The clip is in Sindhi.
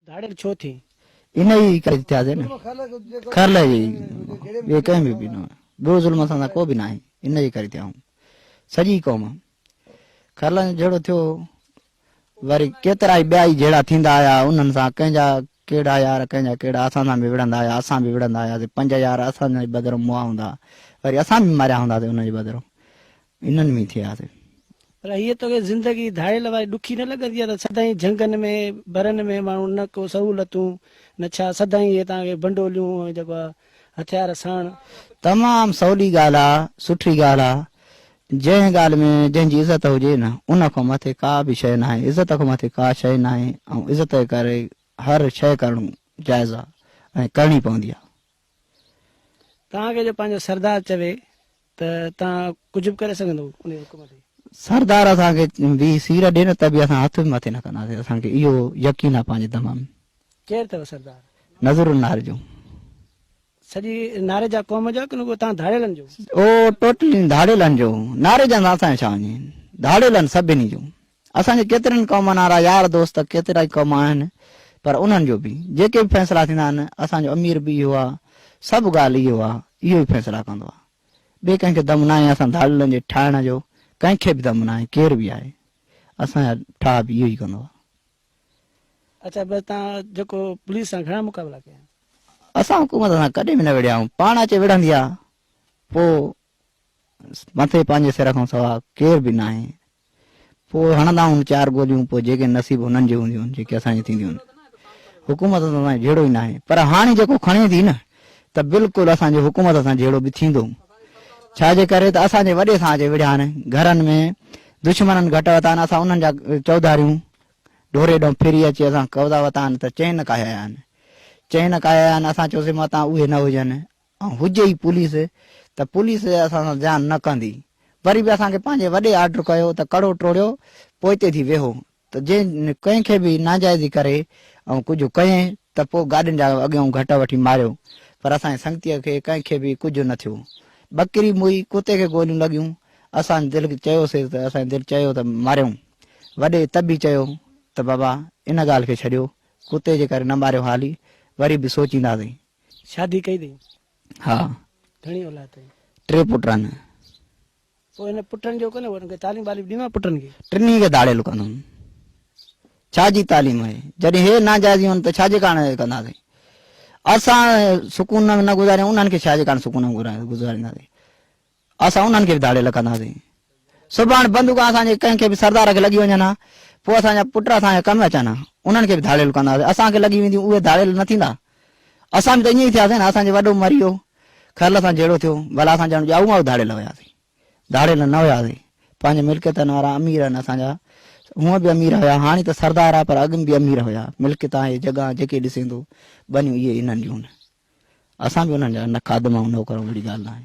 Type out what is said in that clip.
ڌاڙيل ڇو ٿين؟ ان ئي ڪري ته ٿيا سي نه. خير لهي ويئي. ٻيو ڪنهن به به نه. ٻيو ظلم اسان سان ڪو به ناهي. ان ئي ڪري ٿيا هون. سڄي قوم. خيرلان جو جهيڙو ٿيو. وري ڪيترائي ٻيا ئي جهيڙا ٿيندا آيا. انهن سان ڪنهن جا ڪهڙا يار ڪنهن جا ڪهڙا اسان سان به وڙهندا آيا. اسان به وڙهندا آياسي. پنج يار اسان جي بدرون مئا هوندا. وري اسان به ماريا هوندا سي انهن جي بدرون. انهن ۾ ٿياسي. پر هيء توکي زندگي ڌاڙيل واري ڏکي نه لڳندي ته سدائين جهنگن ۾ برن ۾ ماڻهو نه ڪو سهولتون نه ڇا سدائين هيء توهان کي بنڊوليون ۽ جيڪو آهي هٿيار ساڻ. تمام سولي ڳالهه آ، سٺي ڳالهه آ، جنهن ڳالهه ۾ جنهن جي عزت هجي نه ان کان مٿي ڪا به شيء ناهي، عزت کان مٿي ڪا شيء ناهي ۽ عزت جي ڪري هر شيء ڪرڻ جائز آ ۽ ڪرڻي پوندي آ. توهان کي جو پنهنجو سردار چوي ته توهان ڪجهه به ڪري سگهندؤ انهي حڪم تي. سردار اسان کي به سير ڏي نه ته به اسان هٿ به مٿي نه ڪنداسين اسان کي اهو يقين آهي پنهنجي دم ۾. ڪير اٿئو سردار؟ نذر النار جو. سڄي ناريجا قوم جو آهي ڪن رڳو توهان ڌاڙيلن جو؟ او ٽوٽلي ڌاڙيلن جو. ناريجن سان اسان جو ڇا وڃي. ڌاڙيلن سڀني جو. اسان جي ڪيترين قومن وارا يار دوست ڪيترائي ڪم آهن پر انهن جو به جيڪي به فيصلا ٿيندا آهن اسان جو امير به اهو آهي سڀ ڳالهه اهو آهي اهو ئي فيصلا ڪندو آهي ٻي ڪنهن کي دم ناهي اسان ڌاڙيلن جي ٺاهڻ جو ڪنهن کي به دم ناهي ڪير به آهي اسان جا ٺاهه به اهو ئي ڪندو آهي. اڇا بس تان جيڪو پوليس سان گهڻا مقابلا ڪيا؟ اسان حڪومت سان ڪڏهن به نه وڙهيا آهيون پاڻ اچي وڙهندي آهي پوء مٿي پنهنجي سر کان سوا ڪير به ناهي. پوء هڻندائون چار گوليون پوء جيڪي نصيب هنن جي هونديون جيڪي اسان جي ٿينديون. حڪومت سان اسان جو جهيڙو ئي ناهي. پر هاڻي جيڪو کڻي ٿي نه ته بلڪل اسان جو حڪومت سان جهيڙو به ٿيندو. ڇا جي ڪري ته اسان جي وڏي سان اچي وڙهيا آهن. گهرن ۾ دشمنن گهٽ وتا آهن اسان انهن جا چوڌاريون ڍوري ڏانهن ڦري اچي اسان قبضا وتا آهن ته چين ڪاهيا آهن. چين ڪاهيا آهن اسان چيوسين متان اهي نه هجن ۽ هجي ئي پوليس ته پوليس اسان سان زيان نه ڪندي وري به اسان کي پنهنجي وڏي آرڊر ڪيو ته ڪڙو ٽوڙيو پوئتي ٿي ويهو ته جي ڪنهن کي به ناجائزي ڪري ۽ ڪجهه ڪئي ته پوء گاڏين جا اڳيون گهٽ وٺي ماريو پر اسان جي سنگتيء کي ڪنهن کي به ڪجهه نه ٿيو ٻڪري موئي ڪتي کي گوليون لڳيون اسان دل چيوسيس ته اسان جي دل چيو ته ماريون وڏي طبي چيو ته بابا ان ڳالهه کي ڇڏيو ڪتي جي ڪري نه ماريو هالي وري به سوچينداسين. شادي ڪئي اٿئي؟ ها. گهڻي اولاد اٿئي؟ ٽي پٽ آهن. پوء هن پٽن جو ڪونه انهن کي تعليم واليم ڏينو پٽن کي؟ ٽنهي کي ڌاڙيل ڪندم. ڇا جي تعليم آهي؟ جڏهن هي ناجائز هئن ته ڇا جي ڪاڻ ڪنداسين؟ اسان سڪون نه گذاريون انهن کي ڇا جي ڪاڻ سڪون گذارينداسين؟ اسان انهن کي به ڌاڙيل رکنداسين. صبح هاڻ بندوق اسان جي ڪنهن کي به سردار کي لڳي وڃن ها، پوء اسان جا پٽ اسان جا ڪم اچن ها. انهن کي به ڌاڙيل ڪنداسين. اسان کي لڳي وينديون، اهي ڌاڙيل نه ٿيندا. اسان به ته ائين ئي ٿياسين نه. اسان جو وڏو مري ويو، خيرل سان جهيڙو ٿيو، ڀلا اسان ڄڻ ڄائو مائو ڌاڙيل هياسين. ڌاڙيل نه هياسين. پنهنجي ملڪيتن وارا امير آهن اسان جا. هونء به امير هيا، هاڻي ته سردار آهي پر اڳ ۾ به امير هيا. ملڪيت آهي، جڳهه، جيڪي ڏسين ٿو، ٻنيون اهي انهن جون آهن. اسان به انهن جا نه خادم آهيون، نوڪر آهيون، اهڙي ڳالهه ناهي.